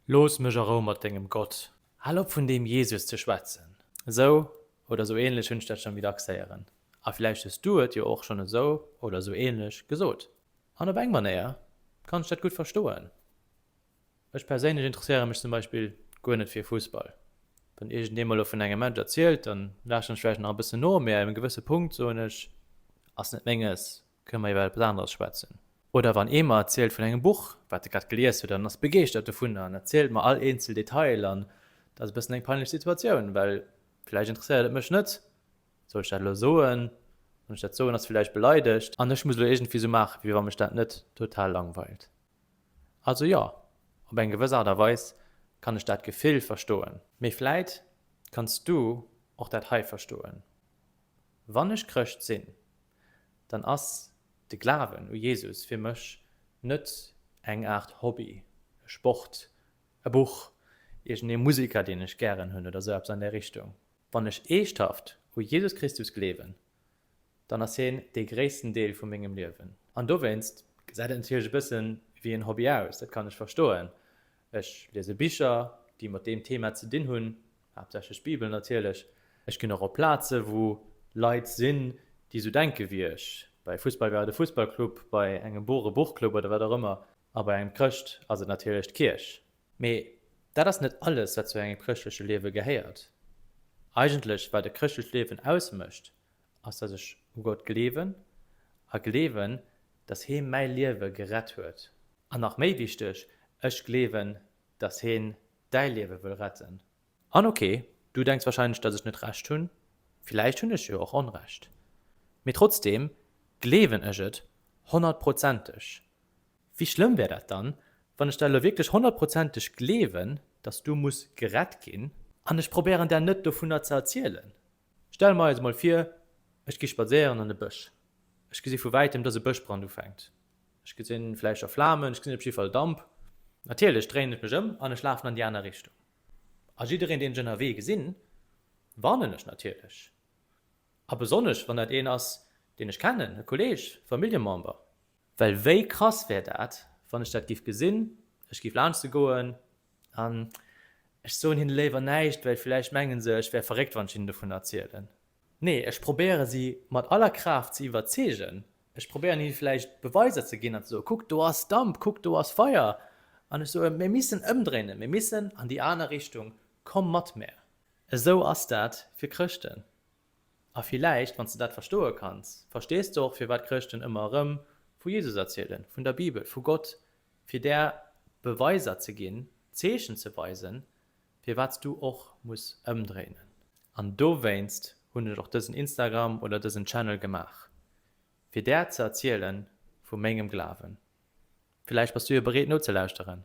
Looss mech a Rou mat dengem Gott. Hal op vun deem Jesus ze schwätzen. Esou oder esou ähnlech hunn ech dat schonn wie dacks héieren. A villäicht hues du et jo och schonn esou oder esou ähnlech gesot. An op eng Manéier kann ech dat gutt verstoen. Ech perséinlech interesséiere mech zum Beispill guer net fir Fussball. Wann iergendee mol lo vun engem Match erzielt, dann laaschen ech vläicht nach e bëssen no, mee ab engem gewësse Punkt soen ech, Ass net menges. Kënne mer iwwer eppes aneres schwätzen? Oder wann ee mer erzielt vun engem Buch, wat e grad gelies huet an ass begeeschtert dovun an erzielt mer all eenzel Detail an et ass e bëssen eng peinlech Situatioun, well vläicht interesséiert et mech net, soll ech dat elo soen? Wann ech dat soen, ass e vläicht beleidegt an ech muss elo iergendwéi esou maachen, wéi wann mech dat net total langweilt. Also jo, op eng gewëss Aart a Weis kann ech dat Gefill verstoen. Mee vläit kanns du och dat hei verstoen. Wann ech Chrëscht sinn, dann ass de Glawen u Jesus fir mech net eng Aart Hobby, e Sport, e Buch, iergendee Museker, deen ech gären hunn oder esou eppes an där Richtung. Wann ech eeschthaft u Jesus Christus gleewen, dann ass hien dee gréissten Deel vu mengem Liewen. An dowéinst gesäit et natierlech e bësse wéi en Hobby aus, dat kann ech verstoen, Ech liese Bicher, déi mat deem Thema ze dinn hunn, haaptsächlech d'Bibel natierlech. Ech ginn och op Plaze wou Leit sinn, déi esou denke wéi ech. Bei Fussball geheiert e Fussballclub, bei engem Buch e Buchclub oder wat och ëmmer. A bei engem Chrëscht ass et natierlech d'Kierch. Mee dat ass net alles, wat zu engem chrëschtleche Liewe gehéiert. Eigentlech, wat e chrëschtlecht Liewen ausmécht, Ass dass ech u Gott gleewen a gleewen dass hee mäi Liewe gerett huet. An nach méi wichteg, ech gleewen dass heen däi Liewe wëll retten. An ok, du denks wahrscheinlech dass ech net Recht hunn, villäicht hunn ech jo och Onrecht, mee trotzdeem gleewen ech et honnertprozenteg. Wéi schlëmm wär dat dann, wann ech dat elo wierklech honnertprozenteg gleewen, dass du muss gerett ginn? An ech probéieren där net dovunner ze erzielen, Stelle mer eis emol vir, ech gi spadséieren an e Bësch. Ech gesi vu wäitem, dass e Bëschbrand ufänkt. Ech gesin vläicht scho Flamen, ech gesin op jiddefall Damp. Natierlech dréien ech mech ëm an ech lafen an déi aner Richtung. A jiddereen, deen ech ënnerwee gesin, warnen ech natierlech. A besonnesch, wann dat een ass, deen ech kennen, e Kolleg, e Familljemember. Well wéi krass wär dat, wann ech dat giff gesinn, ech giff laanschtte goen an ech soen hinne léiwer näischt, well villäicht menge se, ech wär verréckt, wann ech hinnen dovun erzielen. Nee, ech probéiere si mat aller Kraaft ze iwwerzeegen. Ech probéieren hinne villäicht Beweiser ze ginn an ze soen, Kuckt, do ass Damp, kuckt, do ass Feier. An ech soen, Mir missen ëmdréinen, mir missen an déi aner Richtung, komm mat mär. Esou ass dat fir Chrëschten. A villäicht, wann s de dat verstoe kanns, verstees de och, firwat Chrëschten ëmmer erëm vu Jesus erzielen, vun der Bibel, vu Gott, fir där Beweiser ze ginn, Zeechen ze weisen, firwat s du och muss ëmdréinen. An dowéinst hunn ech och dësen Instagram oder dësen Channel gemaach, fir där ze erziele vu mengem Glawen. Villäicht bass du jo bereet nozelauschteren.